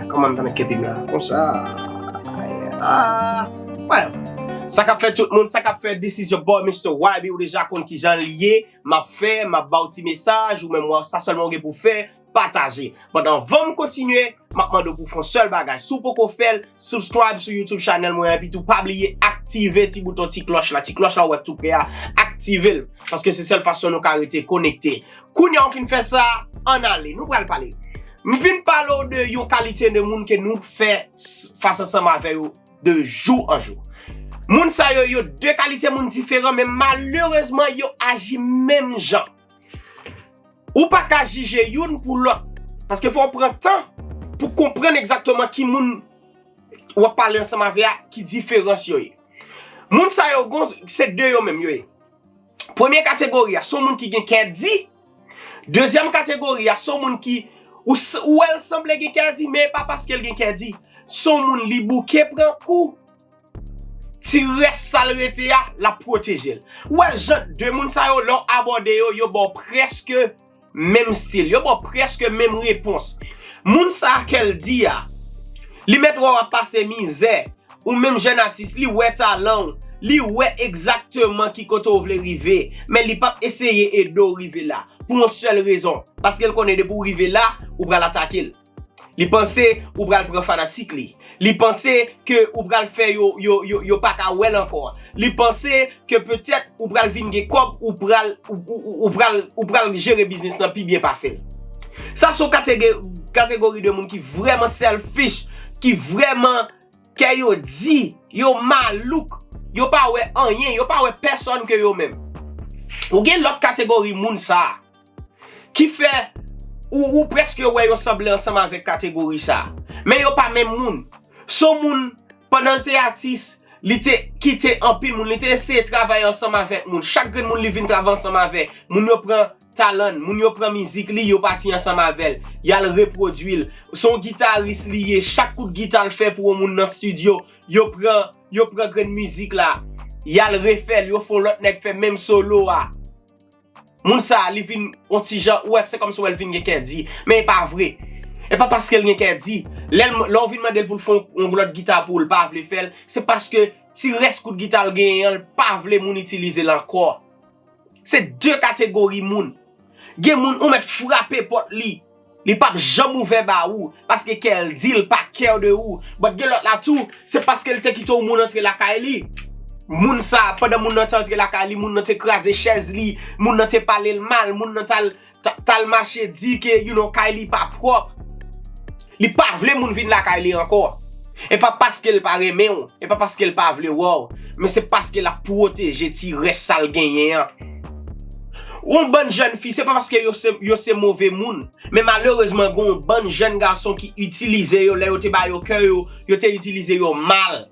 Koman ta met kepim la? Konsa. Whatever. Sa kap fè tout moun, sa kap fè this is your boy Mister YB ou deja konn kijan li ye, map fè, map baw ti mesaj, ou menm sa sèlman ou gen pou fè, pataje. But anvanm kontinye, map mande w pou fon sèl bagay, si w poko fèl, subscribe sou YouTube channel mwen epi tou pa bliye aktive ti bouton ti klòch la, ti klòch la ou wè tou prè a, aktivel, paske se sèl fason nou ka rete konekte. Kounya ou fin fè sa, ann ale. Nou pral pale. M vin pale w de yon kalite de moun ke nou fè fas ansanm avè yo de jou an jou. Moun sa yo, yo de kalite moun diferan men malerezman yo aji menm jan. Ou pa ka jije youn pou lòt. Paske fò w pran tan pou konprann egzakteman ki moun w ap pale ansanm avè a, ki diferans yo ye. Moun sa yo, se de yo menm yo ye. Premye kategori a, se yon moun ki gen kè di. Dezyèm kategori a, se yon moun ki, ou wè l sanble gen kè di, men e pa paske l gen kè di. Se yon moun li bouke pran kou, ti rès sa l rete a, l ap pwoteje l. Ou wè jan de moun sa yo, lè w abòde yo, yo ba w prèske. Menm stil. Yo ba w prèske menm repons. Moun sa a kè l di a, li mèt wè w ap pase mizè, ou menm jèn atis, li wè talan w, li wè egzakteman ki kote w vle rive, men li p ap eseye ede w rive la, pou yon sèl rezon, paske l konnen depi w rive la, ou pral atake l. Li panse ou pral pran fanatik li. Li panse ke ou pral fè yo yo pa ka wè l ankò. Li panse ke petèt ou pral vin gen kòb ou pral ou pral ou pral jere biznis lan pi byen pase l. Sa son kategori de moun ki vrèman selfish, ki vrèman kè yo di, yo malouk, yo pa wè anyen, yo pa wè pèsòn ke yo menm. Ou gen lòt kategori moun sa a ki fè ou prèske wè yo sanble ansanm avèk kategori sa a. Men yo pa menm moun. Se yon moun, pandan l te atis, li te kite anpil moun, li te eseye travay ansanm avèk moun. Chak grenn moun li vin travay ansanm avè, moun yo pran talan l, moun yo pran mizik li, yo pati ansanm avè l, y al repwodui l. Se yon gitaris li ye, chak kout gita l fè pou yon moun nan stidyo, yo pran, yo pran grenn mizik la, y al refè l, yo fè yon lòt nèg fè menm solo a. Moun sa a li vin on ti jan, ou wè se kòmsi wè l vin gen kè di. Men e pa vre. E pa paske l gen kè di. Lè ou vin mande l pou l fè yon lòt gita pou ou l pa vle fè l, se paske ti rès kout gita l genyen an l pa vle moun itilize l ankò. Se de kategori moun. Gen moun ou mèt frape pòt li. Li pap janm ouvè ba ou paske kèl dil pa care de ou but gen lòt la tou se paskel te kite yon moun antre lakay li moun sa pandan moun nan te antre lakay li moun nan te kraze chèz li moun nan te palel mal moun nan tal tal mache di ke you know kay li pa pròp li pa vle moun vin lakay li ankò epa paskel pa renmenw epa paskel pa vle wèw men se paske lap pwoteje ti rès sal genyen an. Yon bann jèn fi se pa paske yo se move moun, men malerezman gen yon bann jèn gason ki itilize yo lè yo te ba yo kè yo, yo te itilize yo mal.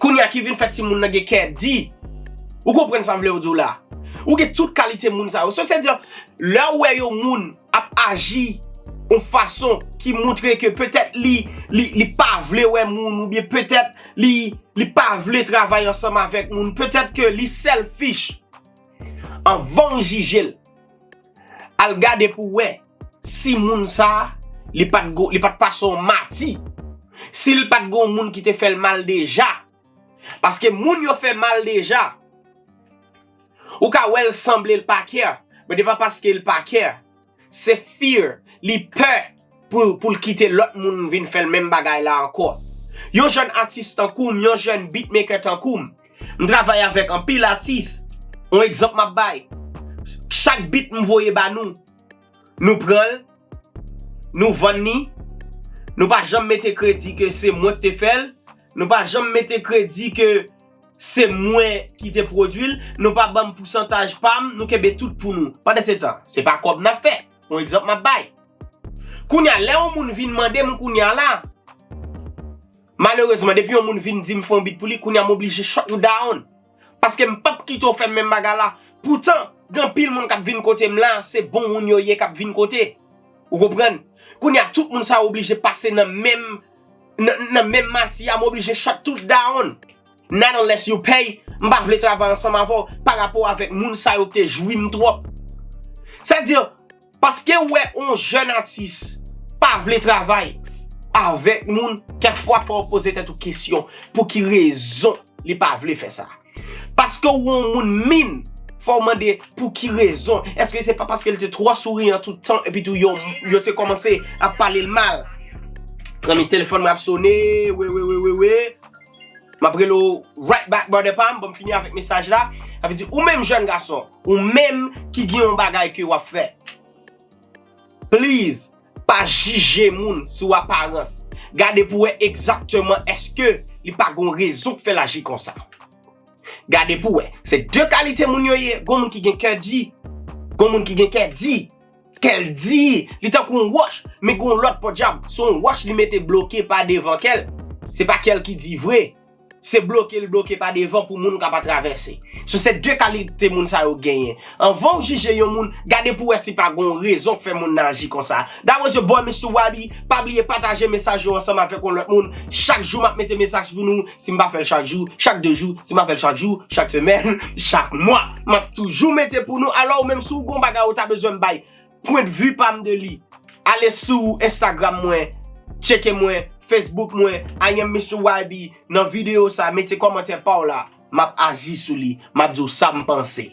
Kounye a ki vin fè timoun nan gen kè di. Ou konprann sa m vle w di w la? Ou gen tout kalite moun sa yo. Sosedi an, lè ou wè yon moun. ap aji yon fason ki montre ke petèt li li pa vle wè moun ou byen petèt li li pa vle travay ansanm avèk moun petèt ke li selfish anvan ou jije l al gade pou w wè si moun sa li pat li pat pase yon mati si l pat gen yon moun ki te fè l mal deja Paske moun yo fè mal deja. Ou ka wè l sanble l pa care, but e pa paske l pa care. Se fear, li pè pou l kite lòt moun vin fè l menm bagay la ankò. Yon jèn atis tankou m, yon jèn beatmaker tankou m, m travay avèk anpil atis, yon egzanp m ap bay, chak beat m voye ba nou, nou pran l, Nou vann ni, nou pa janm mete kredi ke se mwen ki te fè l, nou pa janm mete kredi ke se mwen ki te pwodui l, nou pa banm pousantaj pa m, nou kenbe tout pou nou. Pandansetan, se pa kòb n ap fè. Yon egzanp m ap bay. Kounye a, lè yon moun vin mande m kounye a la, malerezman depi yon moun vin di m fè yon bit pou li, kounye a m oblije shutn down. paske m pap kite w fè m menm bagay la poutan gen anpil moun kap vin kote m la se bon moun yo ye kap vin kote ou konprann kounye a tout moun sa yo oblije pase nan menm nan menm mati a m oblije shut tout down not unless you pay m pa vle travay ansanm avè w parapò avèk moun sa yo k te jwi m twòp sa di. Paskew wè on jèn atis pa vle travay avèk moun kèk fwa fòw poze tèt ou kesyon pou ki rezon li pa vle fè sa. Paskew wè on moun min fòw mande pou ki rezon eske se pa paskel te twò souriyan tout tan epi tou yo te kòmanse ap palel mal. Premye telefòn mwen ap sone, wewewewewe. Map rele w right back brother pam pou m fini avèk mesaj la. Sa vle di ou menm jèn gason, ou menm ki gen yon bagay ke wap fè. Please, pa jije moun sou aparans. Gade pou wè egzakteman eske li pa gon rezon k fè l aji konsa. Gade pou wè. Se de kalite moun yo ye, gon moun ki gen kè di, gon moun ki gen kè di. Kèl di, li tankou yon wòch, men gen yon lòt pòdyab, se yon wòch li mete bloke pa devan kèl. Se pa kèl ki di vre. Se bloke li bloke pa devan pou moun ka pa travèse. So se 2 kalite moun sa yo genyen. Anvan ou jije yon moun, gade pou wè si pa gen yon rezon k fè moun nan aji konsa. That was your boy Mister Waby, pa bliye pataje mesaj yo ansanm avèk yon lòt moun. Chak jou map mete mesaj pou nou, Si m pa fè l chak jou, chak 2 jou, si m pa fè l chak jou, chak semèn, chak mwa, m ap toujou mete pou nou. Alò ou menm si w gen yon bagay ou ta bezwen m bay pwendvi pa m de li, ale sou Instagram mwen, tcheke mwen, Facebook mwen, I am Mister YB, nan videyo sa mete kòmantè pa w la, m ap aji sou li, m ap di w sa m panse.